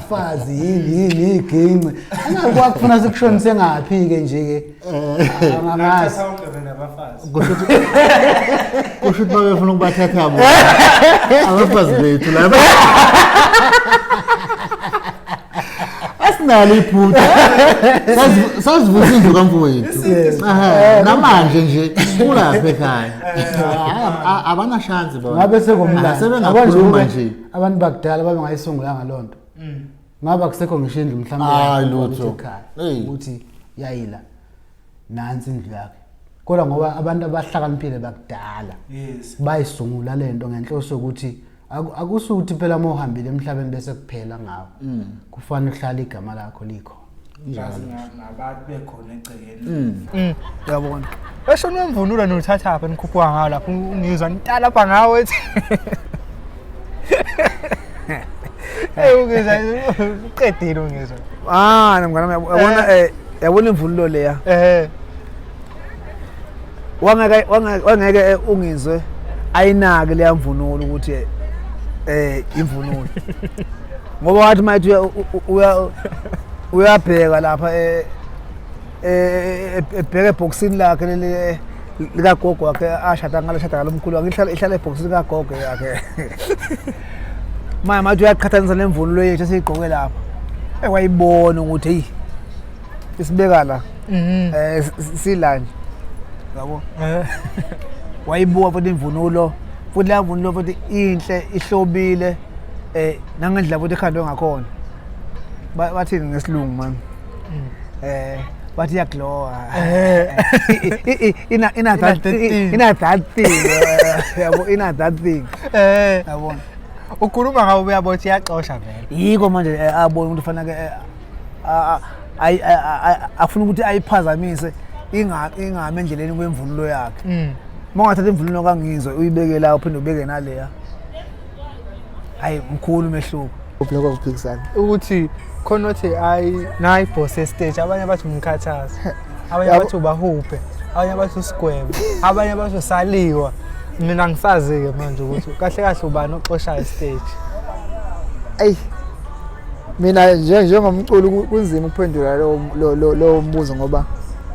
fazi yini yini iginci angakwazi kufuna sikushonise ngaphi ke nje ke eh. angazi kusho ukuthi babefuna ukubathatha bo abafazi bethu laba asinalo iphutha sazivusa indlu kamfowethu namanje nje kulapha ekhaya eh. abanashansi bona ngabe sekomlando sebengakhuluma nje abantu bakudala babengayisungulanga loo nto mm. ngaba kusekho ngisho indlu mhlawumbeekhaya ukuthi yayila nansi indlu yakhe kodwa ngoba abantu abahlakaniphile bakudala bayisungula le nto ngenhloso yokuthi akusukuthi phela uma uhambile emhlabeni bese kuphela ngawo mm. kufanele uhlale igama lakho likho Ngazi nga- ngabantu bekhona egcekeni Mm. Uyabona. Esho nomvunulo nothatha apha nikhuphuka ngawo lapho ngizwa nitala apha ngawo ethi. Hey ungizwa uqedile ungizwa. Ah, nomngane wami yabo- yabona eh yabona imvunulo leya. Eh. wangeke wangeke eh, ungizwe ayinake leya mvunulo ukuthi eh, eh imvunulo ngoba wathi mayithi uya uyabheka lapha eh, eh ebheke eboxini lakhe leli likagogo wakhe ashada ngalo shada ngalo mkhulu wakhe ihlala ihlala ebhoksini likagogo yakhe manje mathi uyaqhathanisa nemvunulo yethu esiyigqoke lapha ekwayibona ukuthi eyi isibeka la mhm. eh silanje yabo eh. wayibuka futhi imvunulo futhi la mvunulo futhi inhle ihlobile eh nangendlela futhi ikhandwe ngakhona bathini ngesilungu manje mm. eh bathi iyaglowa eh. eh, ina ina that thing ina that thing yabo ina that thing eh yabona ukhuluma ngawo uyabothi iyaxosha vele yiko manje abona umuntu fanele afuna ukuthi ayiphazamise ingami endleleni kwemvunulo yakhe uma mm. ungathatha imvunulo kangizwe uyibeke la uphinde ubeke naleya hayi mkhulu umehluko lokho kuphikisana ukuthi khona othi hayi nayi boss estage abanye bathi umkhathazi abanye bathi ubahuphe abanye bathi usigwebo abanye bathi usaliwa mina ngisazi-ke manje ukuthi kahle kahle ubani oxoshayo estage eyi mina njengomculi kunzima ukuphendula lowo mbuzo ngoba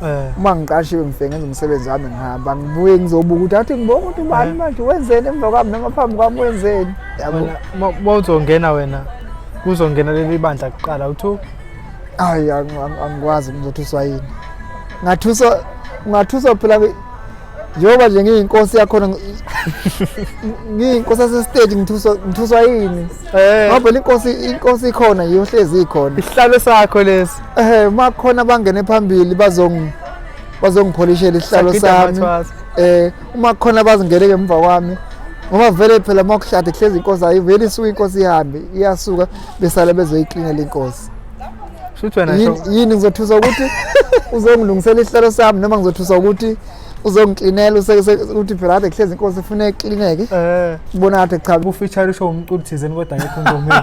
eh. uma ngiqashiwe ngifike ngenza umsebenzi wami ngihamba ngibuye ngizobuka ukuthi athi ngibonga ukuthi ubani eh. manje wenzeni emva kwami noma phambi kwami wenzeni uma uzongena wena kuzongena leli bandla kuqala uthu hayi angikwazi ngizothuswa yini ngathuswa ngathuswa phela njengoba nje ngiyinkosi yakhona ngiyinkosi yasesiteji ngithuswa yini eh. ngoba inkosi inkosi ikhona yiyohlezi ikhona isihlalo sakho lesi ehe eh, uma khona bangene phambili bazong bazongipholishela isihlalo sami eh uma khona bazingene ngemva kwami ngoba vele phela uma kuhlade kuhlezi inkosi ayiveli isuke inkosi ihambe iyasuka besale bezoyiklinela inkosi Shuthi wena Yini- show. yini ngizothusa ukuthi uzongilungisela isihlalo sami noma ngizothusa ukuthi uzongiklinela use- se- ukuthi phela kade kuhlezi inkosi ifuna iklineke Eh. kubona ngathi cha Ubufeature usho umculi thizeni kodwa ngekho ngomeni.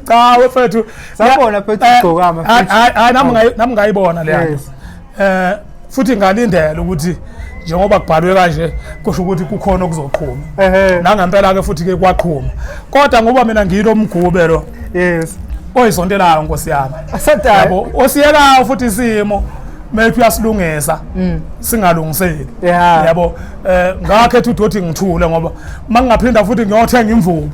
cha wefethu Sabona phethu Eh, ugcokama hayi- futhi. hayi hayi, nami ngayi- nami ngayibona leya Yes. eh futhi ngalindela ukuthi njengoba kubhalwe kanje kusho ukuthi kukhona okuzoqhuma nangempela-ke futhi-ke kwaqhuma kodwa ngoba mina ngiyilo mgube lo yes oyisontelayo nkosi yami yabo osiyekayo futhi isimo maybe uyasilungisa mm. singalungiseki yabo um ngakhetha udothi ngithule ngoba uma ngingaphinda futhi ngiyothenga imvubu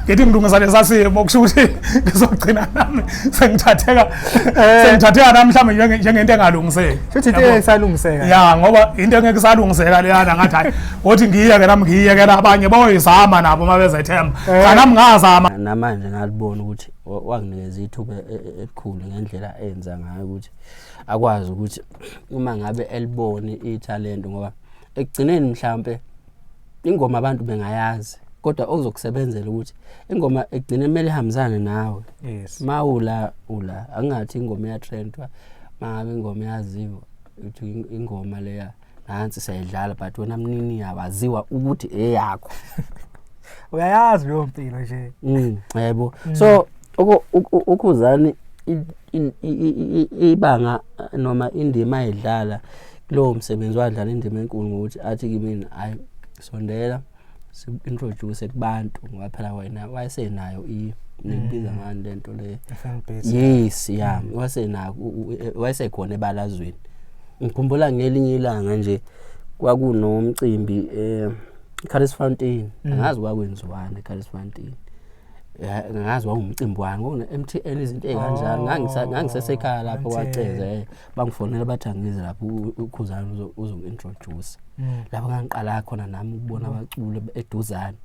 ngithi ngilungisa lesasimo kusho ukuthi ngizogcina nami sengithatheka eh. sengithatheka nami mhlawumbe njengento engalungiseki futhi into esalungiseka ya ngoba into engeke isalungiseka leyana ngathi hayi ngothi ngiyeke nami ngiyeke nabanye boyizama nabo uma bezethemba eh. cha nami ngazama namanje ngalibona ukuthi wanginikeza ithuba e, e, elikhulu ngendlela enza ngayo ukuthi akwazi ukuthi uma ngabe elibone ithalente ngoba ekugcineni mhlambe ingoma abantu bengayazi kodwa okuzokusebenzela ukuthi ingoma egcine kumele ihambisane nawe yes mawula ula angathi ingoma ya trend wa mangabe ingoma yaziwa uthi ingoma leya nansi sayidlala but wena mnini yawaziwa ukuthi eyakho uyayazi leyo mpilo nje mm yebo mm. so ukhuzani ibanga noma indima ayidlala kulowo msebenzi wadlala indima enkulu ngokuthi athi kimina hayi sondela si-introduce kubantu ngoba phela wena wayesenayo ngiyibiza mm. ngani le nto le yes ya mm. wayesenayo wayesekhona ebalazweni ngikhumbula ngelinye ilanga nje kwakunomcimbi eh Carlos Fountain mm. angazi kwakwenziwani eCarlos Fountain ngazi wawumcimbi wani ngona MTN izinto ezikanjalo oh, ngangisesekhaya lapho kwaceze eh, bangifonela bathi angize lapho ukhuzana uzointroduce mm. lapho ngangiqala khona nami ukubona mm. abaculi eduzane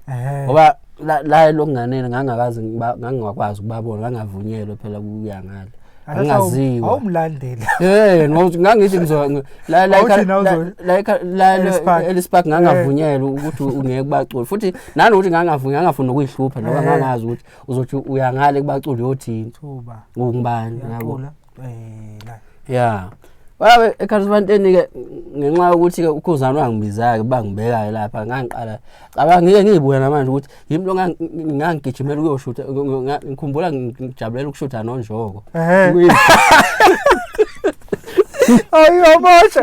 ngoba la lokunganene ngangakazi ngangakwazi ukubabona ngangavunyelwe phela kuya ngale angaziwa awumlandeli eh ngangithi ngizo la la la la elispark ngangavunyelwa eh. ukuthi ungeke kubaculi futhi nani ukuthi ngangavunya ngangafuni nokuyihlupha ngoba eh. ngangazi ukuthi uzothi uyangale kubaculi yothini thuba ngubani yabo eh la yeah wabe ekhathibanteni ke ngenxa yokuthi ke ukhuzana wangibiza ke bangibeka lapha ngangiqala cabanga ngike ngiyibuya namanje ukuthi yimi lo ngangigijimela ukuyoshutha ngikhumbula ngijabulela ukushutha nonjoko ayiyobosha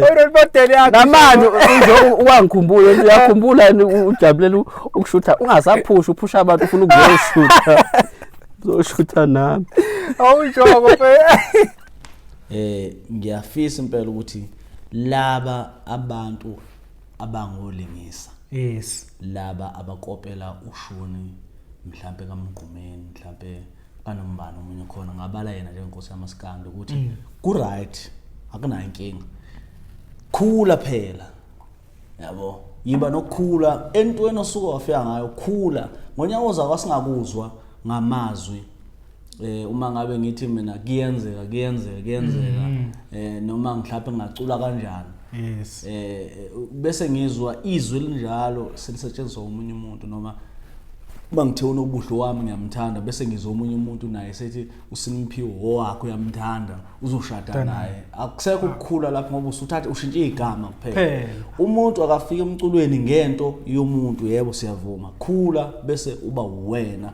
oyinodeli yakhe namanje nje uwangikhumbula uyakhumbula ujabulela ukushutha ungasaphusha uphusha abantu ufuna ukuyoshutha uzoshutha nami awunjoko eh ngiyafisa impela ukuthi laba abantu abangolingisa yes laba abakopela ushuni mhlampe kamgqumeni mhlampe kanombani omunye khona ngabala yena njengenkosi yamaskando ukuthi mm. ku right akunayo inkinga khula phela yabo yiba nokukhula entweni osuke wafika ngayo khula ngonyaka ozayo asingakuzwa ngamazwi eh uma ngabe ngithi mina kuyenzeka kuyenzeka kuyenzeka mm. eh noma mhlawumbe ngacula kanjani yes eh bese ngizwa izwi linjalo selisetshenziswa umunye umuntu noma uma ngithe unobuhle wami ngiyamthanda bese ngizwa omunye umuntu naye sethi usiniphiwo owakho uyamthanda uzoshada naye akusekho ukukhula lapho ngoba usuthathe ushintshe igama kuphela umuntu akafika emculweni ngento yomuntu yebo siyavuma khula bese uba uwena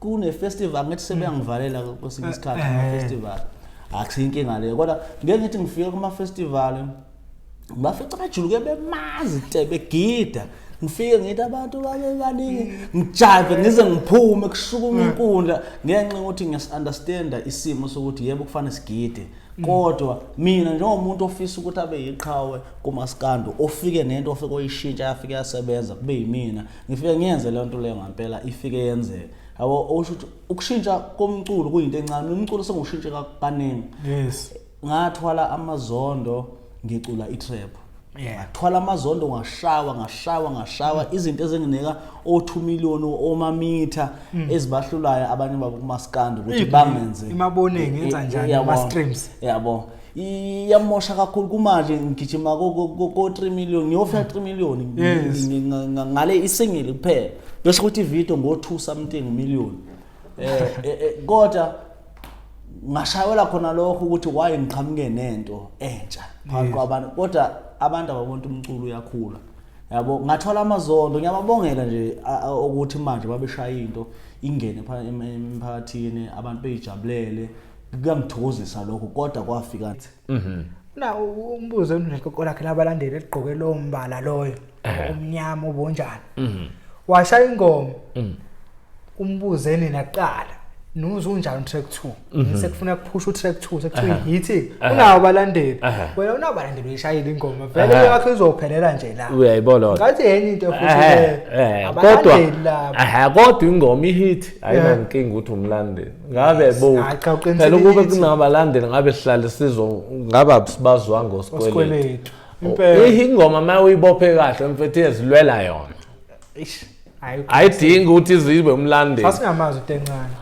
kune festival ngithi sebeyangivalela kwesinye eh, isikhathi ama eh. festival akusiyinkinga leyo kodwa ngeke ngithi ngifike kuma festival bafica bajuluke bemazi te begida ngifike ngithi abantu babe baningi ngijayive ngize ngiphume kushukuma hmm. inkundla ngenxa ukuthi ngiyasunderstanda isimo sokuthi yebo kufanele sigide hmm. kodwa mina njengomuntu ofisa ukuthi abe yiqhawe kumaskando ofike nento ofike oyishintsha yafike yasebenza kube yimina ngifike ngiyenze loo nto leyo ngampela ifike yenzeka yabo usho ukuthi ukushintsha komculo kuyinto encane umculo sengiwushintshe kaningi yes ngathwala amazondo ngicula itrap Yeah. ngathwala amazondo ngashawa ngashawa ngashawa izinto ezinginika o2 million omamitha ezibahlulayo abanye babo kumaskandi ukuthi Ibi- bangenze imaboningi, yenza njani Yabo. ama-streams? yabo iyamosha kakhulu kumanje ngigijima ko-3 million ngiyofika 3 million ngale isingile kuphela besho ukuthi ividio ngo-2 something million um kodwa ngashayela khona lokho ukuthi why ngiqhamuke nento entsha phakathi kwabantu kodwa abantu ababona umculo uyakhula yabo ngathola amazondo ngiyababongela nje ukuthi manje babeshaya into ingene emphakathini abantu beyijabulele kuyangithokozisa lokho kodwa kwafika mhm na umbuzo enekoko lakhe labalandeli eligqoke lo mbala loyo umnyama obonjani mhm washaya ingoma mhm umbuze nina kuqala nuzo unjani track 2 mhm. sekufuna kuphusha utrack 2 sekuthiwa yithi unawo balandeli wena unawo balandeli uyishayile ingoma vele yakho izophelela nje la uyayibona lona ngathi yenye into futhi kodwa aha kodwa ingoma ihit ayinankinga ukuthi umlandeli ngabe Yes. bo Hayi, cha, uqinisile phela ukube kithi. kunabalandeli ngabe sihlale sizo ngabe abusibazwa ngosikweletu osikweletu impela Iyi ingoma uma uyibophe kahle mfethu iyazilwela yona Eish, hayi ayidingi ukuthi izibe umlandeli sasingamazi utencane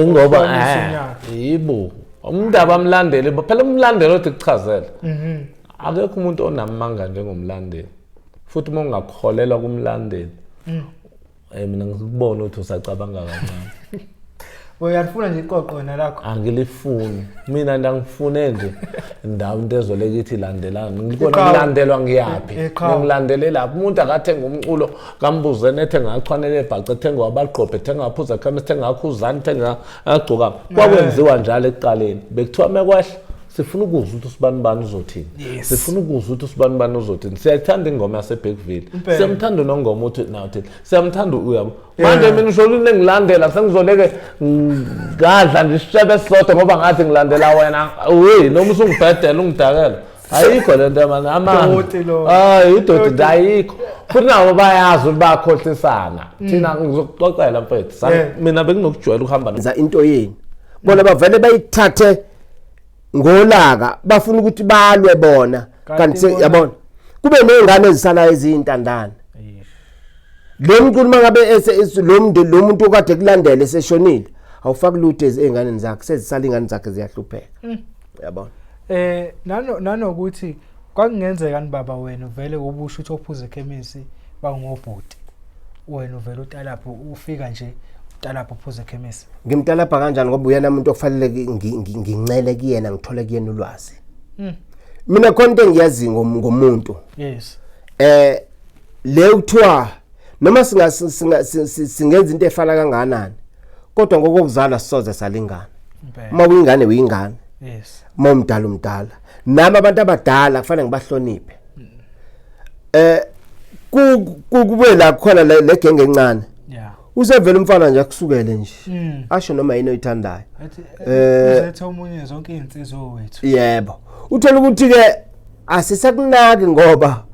ingoba Uhlomisa eh, unyaka. yibo umuntu abamlandeli bo- phela umlandeli othi kuchazela Mhm. akekho umuntu onamanga njengomlandeli futhi uma ungakholelwa kumlandeli Hey mina ngikubona ukuthi usacabanga kancane. Uyalifuna nje iqoqo wena lakho. Angilifuni. Mina ndangifune nje ndawo into ezoleke ithi landelana. Ngikona Iqhawe. ngilandelwa ngiyaphi. I- iqhawe. Ngilandelele lapho umuntu akathenga umculo kambuze nethe ngachwanele ebhaca ethenga wabaqophe ethenga aphuza ekhamisa ethenga akhuzani ethenga agcoka. Kwakwenziwa njalo ekuqaleni. Bekuthiwa mekwahle sifuna ukuzwa ukuthi usibani bani uzothini Yes. sifuna ukuzwa ukuthi usibani bani uzothini siyayithanda ingoma yasebhekville Impela. siyamthanda nongoma uthi nawuthini siyamthanda uyabo Yeah. manje mina usho ukuthi nengilandela sengizoleke ngadla nje isishebe esisodwa ngoba ngathi ngilandela wena uyi noma usungibhedela ungidakela ayikho le nto yamani Doti lo. hayi idoti Doti. nje ayikho futhi nabo bayazi ukuthi bayakhohlisana thina ngizokuxoxela mfethu Sa- Mm. Yeah. mina benginokujwayela ukuhamba no- yenza into yenu bona bavele bayithathe ngolaka bafuna ukuthi balwe bona kanti yabona kube nezingane ezisalayo ezintandana lo mculi mangabe lo mntu lo muntu okade kulandele seshonile awufaki lutho ezinganeni zakhe sezisala ingane zakhe ziyahlupheka mm. yabona eh nano nanokuthi kwakungenzekani baba wena uvele ubusho ukuthi ophuza ekhemisi bangobhuti wena uvele utalapho ufika nje utalapho uphuza ekhemisi ngimtalapha kanjani ngoba uyena umuntu okufanele ngincele kuyena ngithole kuyena ulwazi hmm. mina khona into engiyazi ngomuntu yes eh le kuthiwa noma singa singenza into efana kanganani kodwa ngokokuzala sisoze salingana uma uyingane uyingane yes uma umdala umdala nami abantu abadala kufanele ngibahloniphe eh kube la khona le genge encane yeah usevela umfana nje akusukele nje mm. asho noma yini oyithandayo eh, eh uzethe omunye zonke izinsizwa wethu yebo uthola ukuthi ke asisakunaki ngoba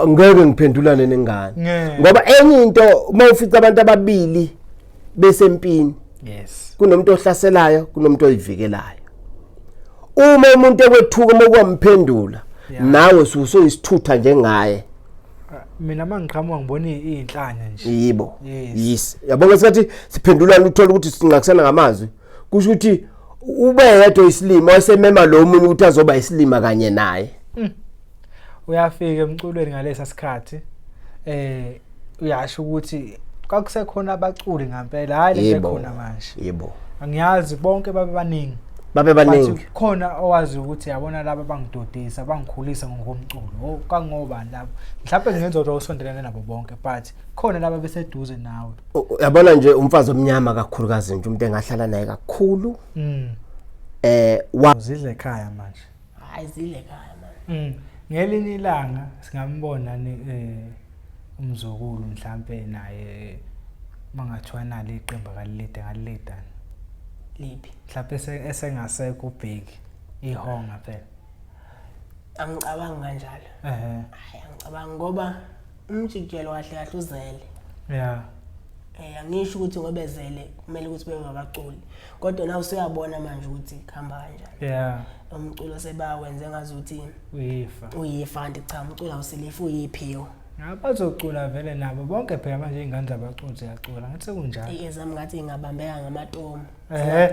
ngeke ngiphendulane nengane ngoba enye into uma ufica abantu ababili besempini yes kunomuntu ohlaselayo kunomuntu oyivikelayo uma umuntu ekwethuka uma kwamphendula nawe ususoyisithutha njengaye mina mangiqhamuka ngibona izinhlanya nje yibo yes yabona isikhathi siphendulana uthola ukuthi sinqakusana ngamazwi kusho ukuthi ube yedwa isilima wasemema lo munye ukuthi azoba isilima kanye naye hmm. uyafika emculweni ngalesa sikhathi eh uyasho ukuthi kwakusekhona abaculi ngempela hayi lekhona manje yebo angiyazi bonke babe baningi babe baningi khona owazi ukuthi yabona laba bangidodisa bangikhulisa ngokomculo kangobani labo mhlawumbe ngenza ukuthi usondelene nabo bonke but khona laba beseduze nawe yabona nje umfazi omnyama kakhulukazi nje umuntu engahlala naye kakhulu mm. eh wazidle ekhaya manje hayi zidle ekhaya manje mm. ngelinye ilanga singambona ni eh umzukulu mhlambe naye mangathiwa nalo iqembu akalilide ngalilidana liphi mhlambe esengasekho ubheki ihonga phela angicabangi kanjalo ehe hayi angicabangi ngoba umjikijelo kahle kahle uzele yeah eh angisho ukuthi ngoba ezele kumele ukuthi bengabaculi kodwa na usuyabona manje ukuthi khamba kanjani yeah umculo sebawenze ngazi ukuthi uyifa uyifa ndi cha umculo awusilifu uyiphiwo Abazocula vele nabo bonke phela manje ingane zabaculi ziyacula ngathi kunjalo. Ezami ngathi ingabambeka ngamatomu. ehe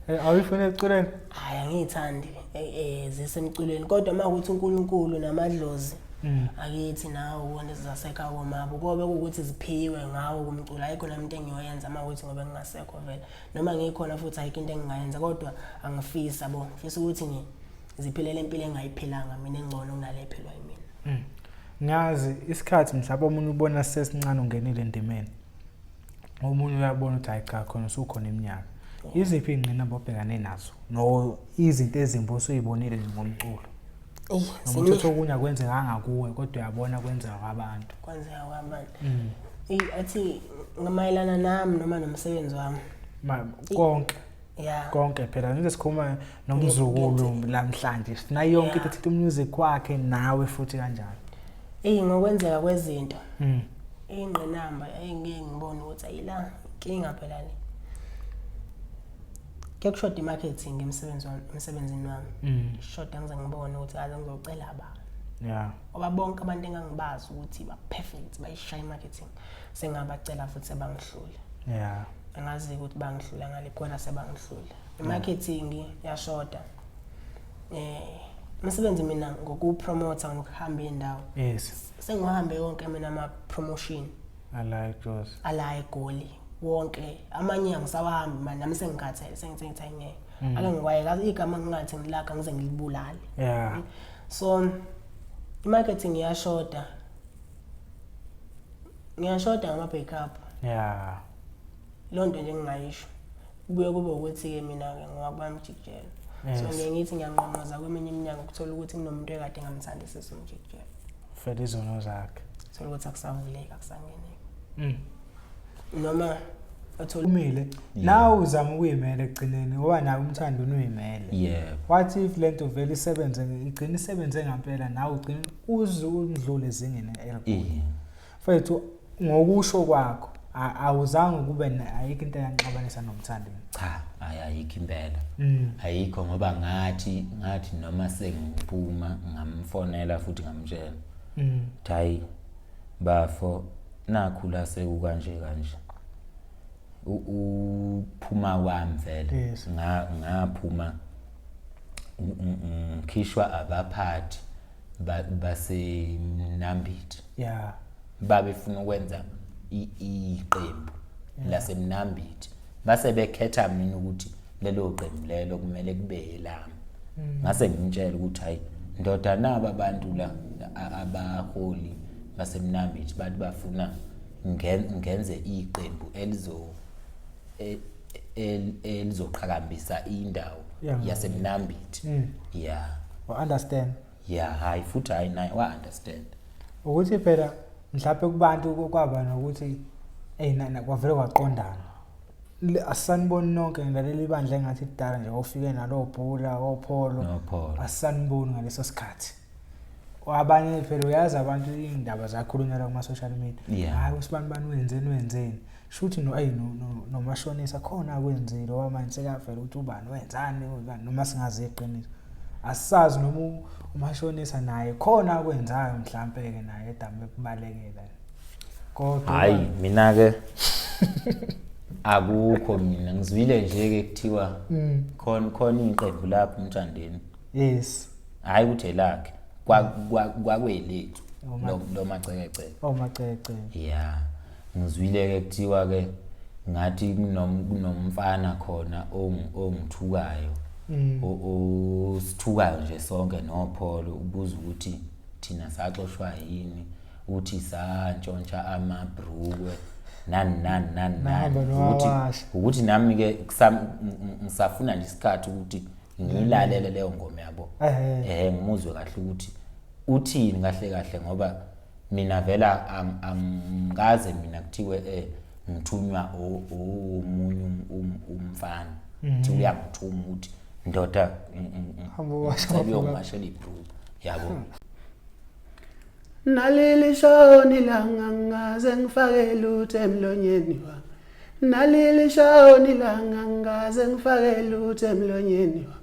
eh, awuyifuna eculeni hayi angiyithandi eh, eh, zisemculweni kodwa uma ukuthi unkulunkulu namadlozi mm. akithi nawo ubona zizasekha komabo kobe ukuthi ziphiwe ngawo kumculo ayikho nami into engiyoyenza uma ukuthi ngobe ngingasekho vele noma ngikhona futhi ayikho into engingayenza kodwa angifisa bo ngifisa ukuthi ngi ziphilele impilo engayiphilanga mina engcono kunale ephilwa yimina mm. ngiyazi isikhathi mhlawumbe omunye ubona sesincane ungenile endimeni omunye uyabona ukuthi hayi cha khona usukhona iminyaka oh. iziphi iy'ngqinamba obhekane nazo no izinto ezimbi osuyibonile ngomculo noma uthatha okunye akwenzekanga kuwe kodwa uyabona kwenzeka kwabantu kwenzeka kwabantu mm. athi ngamayelana nami noma nomsebenzi wami konke Yeah. konke phela nje sikhuluma nomzukulu lamhlanje sinayo yonke into thithi umusic kwakhe nawe futhi kanjalo eyi ngokwenzeka kwezinto mm. ingqinamba engeke ngibone ukuthi ayila inkinga phela le kuyakushoda i-marketing emsebenzi wami emsebenzini wami mm. shoda ngize ngibone ukuthi kaze ngizocela ba yeah ngoba bonke abantu engangibazi ukuthi ba-perfect bayishaya i-marketing sengabacela futhi sebangihlule yeah angazi ukuthi bangihlula ngale kona sebangihlule imarketing yashoda eh umsebenzi mina ngokupromote ngokuhamba indawo yes sengihambe yonke mina ama promotion alayi Jozi alayi Goli wonke amanye angisawahambi manje nami sengikhathele sengithi ngithe ngeke mm. ake ngikwayeka igama ngingathi ngilaka ngize ngilibulale yeah so i marketing yashoda ngiyashoda ngama-backup ya loo nto nje ngingayisho kubuye kube ukuthi-ke mina-ke ngowakubami ujikijelo so ngiye ngithi ngiyanqonqoza kweminye iminyango kuthola ukuthi kunomuntu ekade ngamthandisisa umjikijelo fela izono zakhe thola ukuthi akusavuleki akusangeneki mm. noma athole umile nawe uzama ukuyimela ekugcineni ngoba nawe umthando unuyimele yebo what if lento vele isebenze igcina isebenze ngempela nawe ugcina uze undlule ezingeni elikude mfethu ngokusho kwakho awuzange kube ayikho into eyanixabanisa nomthandeni cha hayi ayikho impela mm. ayikho ngoba ngathi ngathi noma sengiphuma ngamfonela futhi ngamtshela mm. hayi bafo nakhu la sekukanje kanje uphuma kwami vele ngaphuma ngikhishwa abaphathi basemnambithi yeah babefuna ukwenza iqembu lasemnambithi base bekhetha mina ukuthi lelo qembu lelo kumele kube yelami mm. ngase ngimtshela ukuthi hayi ndoda naba abantu la abaholi basemnambithi bathi bafuna ngenze iqembu elizo e, elizoqhakambisa indawo yasemnambithi mm. yeah wa understand ya hayi futhi hayi naye wa-understand ukuthi phela mhlawumpe kubantu kwaba nokuthi eyi nana kwavele kwaqondana asaniboni nonke ngilalela ibandla engathi kudala nje ofike nalo bhula opholo asaniboni ngaleso sikhathi abanye phela uyazi abantu indaba zakhulunyelwa kuma social media hayi usibani bani wenzeni wenzeni shuthi no ayi no nomashonisa khona akwenzile wamanje sekavela ukuthi ubani wenzani ubani noma singazi iqiniso asazi noma umashonisa naye khona akwenzayo mhlambe ke naye edamu ekubalekela kodwa hayi mina ke akukho mina ngizwile nje ke kuthiwa mm. khona khona iqembu lapho umthandeni yes hayi uthe lakhe kwakwelethu oh, lo macekeceke oh macekeceke yeah Ngizwile ke kuthiwa ke ngathi kunomfana khona ongithukayo mm. osithukayo nje sonke nopholo ubuza ukuthi thina saxoshwa yini uthi santshontsha amabhrukwe nani nani nani nani ukuthi ukuthi nami ke ngisafuna nje isikhathi ukuthi ngilalele leyo ngoma yabo eh ngimuzwe kahle ukuthi uthini kahle kahle ngoba mina vela angikaze mina kuthiwe eh ngithunywa omunye um, um, umfana mhm. thi uyangithuma ukuthi ndoda ngicebeyongibashela ibhruba yabo hmm. naleli shoni langa ngaze ngifake lutho emlonyeni wami naleli shoni langa ngaze ngifake lutho emlonyeni wami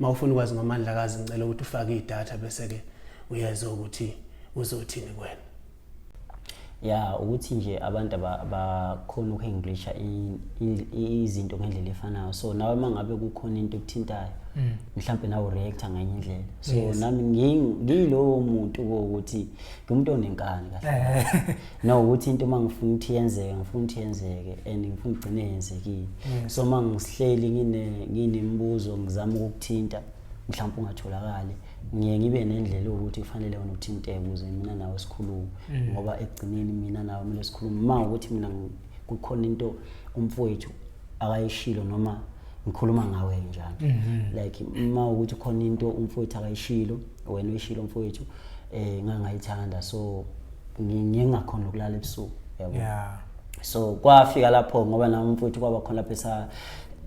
Uma ufuna ukwazi ngomandlakazi ngicela ukuthi ufake idatha bese ke uyezwa ukuthi uzothini kwena. ya ukuthi nje abantu abakhona ukuhenglisha izinto ngendlela efanayo so nawe uma ngabe kukhona into ekuthintayo mm. mhlawumbe nawe ureacta ngenye indlela so nami ngiyilowo muntu kokuthi ngimuntu onenkani kahle no ukuthi into uma ngifuna ukuthi yenzeke ngifuna ukuthi yenzeke and ngifuna ugcine yenzekile mm. so uma ngisihleli nginemibuzo ngizama ukukuthinta mhlawumpe ungatholakali ngiye ngibe nendlela ukuthi kufanele wena uthinteke ukuze mina nawe sikhulume mm. ngoba ekugcineni mina nawe kumele sikhulume uma ukuthi mina kukhona into umfowethu akayishilo noma ngikhuluma ngawe njalo mm-hmm. like uma ukuthi khona into umfowethu akayishilo wena uyishilo umfowethu eh ngangayithanda so ngingakhona ukulala ebusuku yabo yeah so kwafika lapho ngoba nami mfowethu kwaba khona lapho esa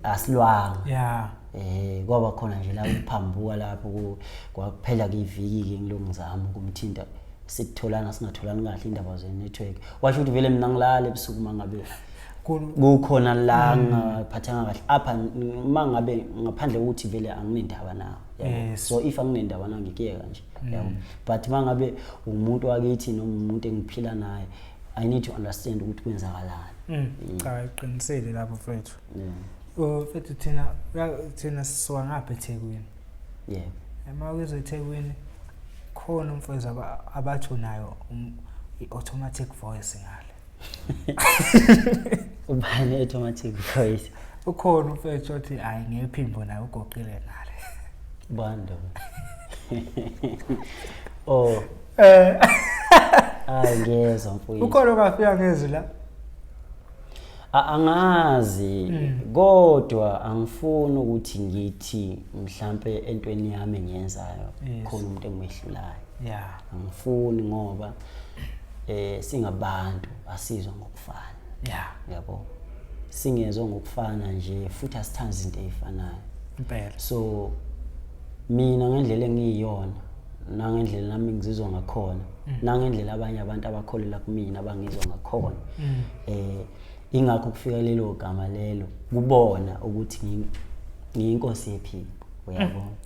asilwanga yeah eh kwaba khona nje la ukuphambuka lapho kwakuphela kiviki ke ngilongizama ukumthinta sitholana singatholani kahle indaba ze network washo ukuthi vele mina ngilala ebusuku mangabe kukhona la mm. ngaphathanga kahle apha mangabe ngaphandle ukuthi vele anginendaba nawo so if anginendaba nangikuyeka nje mm. yabo but mangabe umuntu wakithi noma umuntu engiphila naye i need to understand ukuthi kwenzakalani mm. mm. cha iqinisile lapho mfethu o mfethu thina thina sisuka ngapha eThekwini yeah uma uze eThekwini khona umfowethu abathonayo um, i-automatic voice ngale ubani automatic voice ukhona umfethu othi hayi ngephimbo naye ugoqile nale bando oh eh hayi ngiyezwa mfowethu ukhona ongafika ngezwi la angazi mm. kodwa angifuni ukuthi ngithi mhlambe entweni yami engiyenzayo khona umuntu engimehlulayo yeah angifuni ngoba eh singabantu asizwa ngokufana yeah yabo singezwe ngokufana nje futhi asithanda izinto ezifanayo impela so mina ngendlela engiyiyona nangendlela nami ngizizwa ngakhona mm. nangendlela abanye abantu abakholela kumina abangizwa ngakhona mm. eh ingakho kufika lelo gama lelo kubona ukuthi ngiyinkosi yephiko uyabona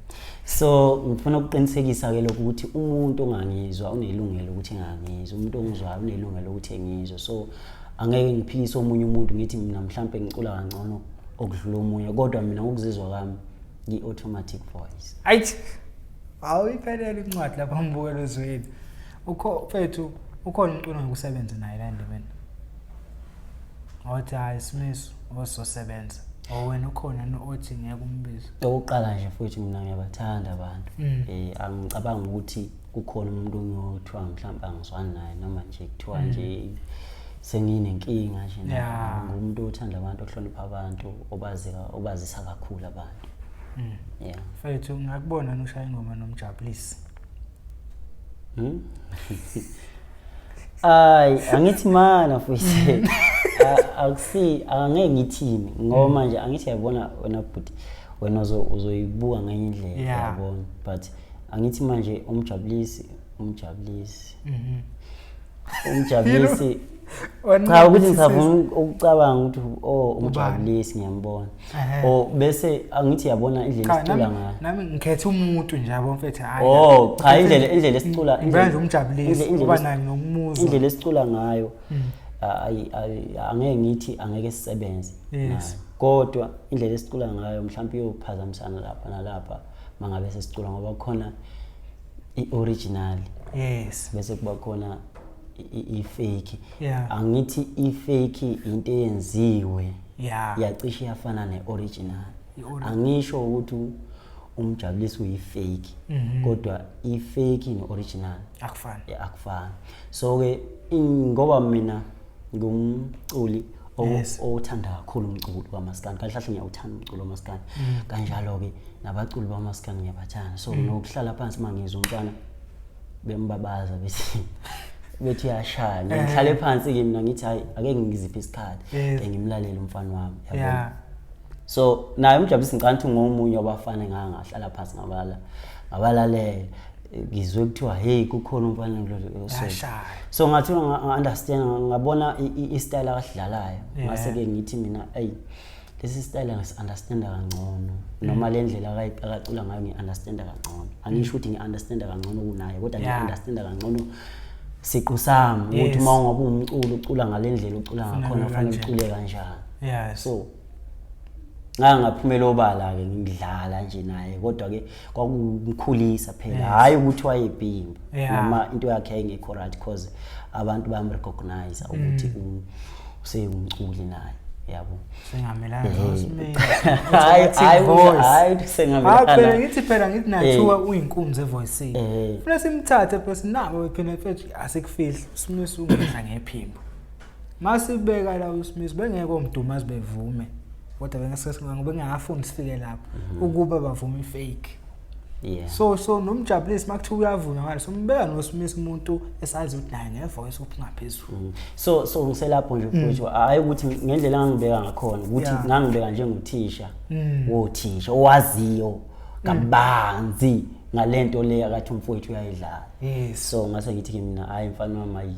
so ngifuna ukuqinisekisa ke lokho ukuthi umuntu ongangizwa unelungelo ukuthi engangizwa umuntu ongizwayo unelungelo ukuthi engizwe so angeke ngiphikise omunye umuntu ngithi mina mhlampe ngicula kangcono okudlula omunye kodwa mina ngokuzizwa kwami ngi-automatic voice ayithi awuyiphelele incwadi lapha mbukelo zweli ukho mfethu ukhona umuntu ongakusebenza naye la endimeni othi hayi simiso ozosebenza or wena ukhona no- othi ngeke umbize okokuqala nje futhi mina ngiyabathanda abantu Mm. eh angicabanga ukuthi kukhona umuntu ongiyothiwa mhlawumbe angizwani naye noma nje kuthiwa nje senginenkinga nje naye. Yeah. ngumuntu othanda abantu ohlonipha abantu obazika obazisa kakhulu abantu Mm. yeah mfethu ngakubona nushaya ingoma nomjabulisi Hmm? Ay, angithi mana mfowethu. Akusi angeke ngithini ngoba manje angithi yabona wena bhuti wena uzoyibuka ngenye indlela yabona but angithi manje umjabulisi umjabulisi. Mhm. Umjabulisi cha ukuthi ngisavuma ukucabanga ukuthi o oh, umjabulisi ngiyambona o oh, bese angithi yabona indlela esicula ngayo nami ngikhetha umuntu nje yabo mfethu hayi o oh, cha indlela indlela esicula indlela nje umjabulisi uba naye ngokumuza indlela esicula ngayo hmm. angeke ngithi angeke sisebenze kodwa indlela esicula ngayo mhlawumbe iyophazamisana lapha nalapha mangabe sesicula ngoba khona i-original yes bese kuba khona ifake yeah. angithi ifake into eyenziwe yeah. yacishe yafana ne-original angisho ukuthi umjabulisi uyifake mm -hmm. kodwa ifake ne-original akufani yeah, akufani so-ke ngoba mina ngumculi owuthanda kakhulu umculo kamaskandi kahle kahle ngiyawuthanda umculo kamaskandi mm. kanjalo-ke nabaculi bamaskandi ngiyabathanda so mm. nokuhlala phansi uma ngizwa umntwana bembabaza bethi bethi yashaya eh. ngihlale phansi ke mina ngithi hayi ake ngiziphe isikhathi ke ngimlalele umfana wami yabona so naye umjabulisi ngicela ukuthi ngomunye wabafana engangahlala phansi ngabala ngabalalela ngizwe kuthiwa hey kukhona umfana ngilosashaya so ngathi nga-understand ngabona i-style akadlalayo ngase-ke ngithi mina eyi hey, lesi style ngasi-understanda kangcono noma le ndlela akacula ngayo ngi-understanda kangcono angisho ukuthi ngi-understanda kangcono kunaye kodwa ngi-understanda kangcono siqu sami ukuthi uma ungabe umculo ucula ngale ndlela ucula ngakhona kufanele ucule kanjani so ngangaphumela obala-ke ngidlala nje naye kodwa-ke kwakumkhulisa phela yes. hayi ukuthi wayebhimba yeah. noma into yakhe yayingekho right because abantu bamrecognize ukuthi mm. um, useyumculi naye yabo sengamelana eh. nosimeni hayi hayi hayi sengamelana hayi ngithi phela ngithi nathiwa eh. uyinkunzi evoice eh. funa simthathe phela sinabo phela mfethu asikufihli simisa ungidla ngephimbo masibeka la uSmith bengeke omdumazi bevume kodwa bengasesingango bengafuni sifike lapho mhm. ukuba bavume ifake Yeah. So so nomjabulisi makuthiwa uyavuma ngalo sombeka noSmith umuntu esazi ukuthi naye ngevoice ophingaphezulu. Mm. So so ngiselapho nje mm. futhi hayi ukuthi ngendlela engangibeka ngakhona ukuthi ngangibeka njengothisha. Mm. Wothisha owaziyo kabanzi ngalento le akathi umfowethu uyayidlala. Yes. So ngase ngithi kimi mina hayi mfana wami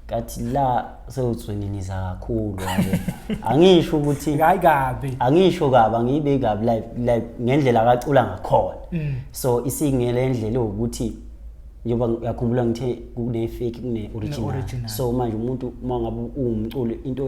kathi la sewutsweniniza kakhulu angisho ukuthi hayi kabi angisho kabi angibe kabi like like ngendlela akacula ngakhona mm. so isingele indlela ukuthi njengoba uyakhumbula ngithe kune fake kune original so manje umuntu uma ngabe uwumculi into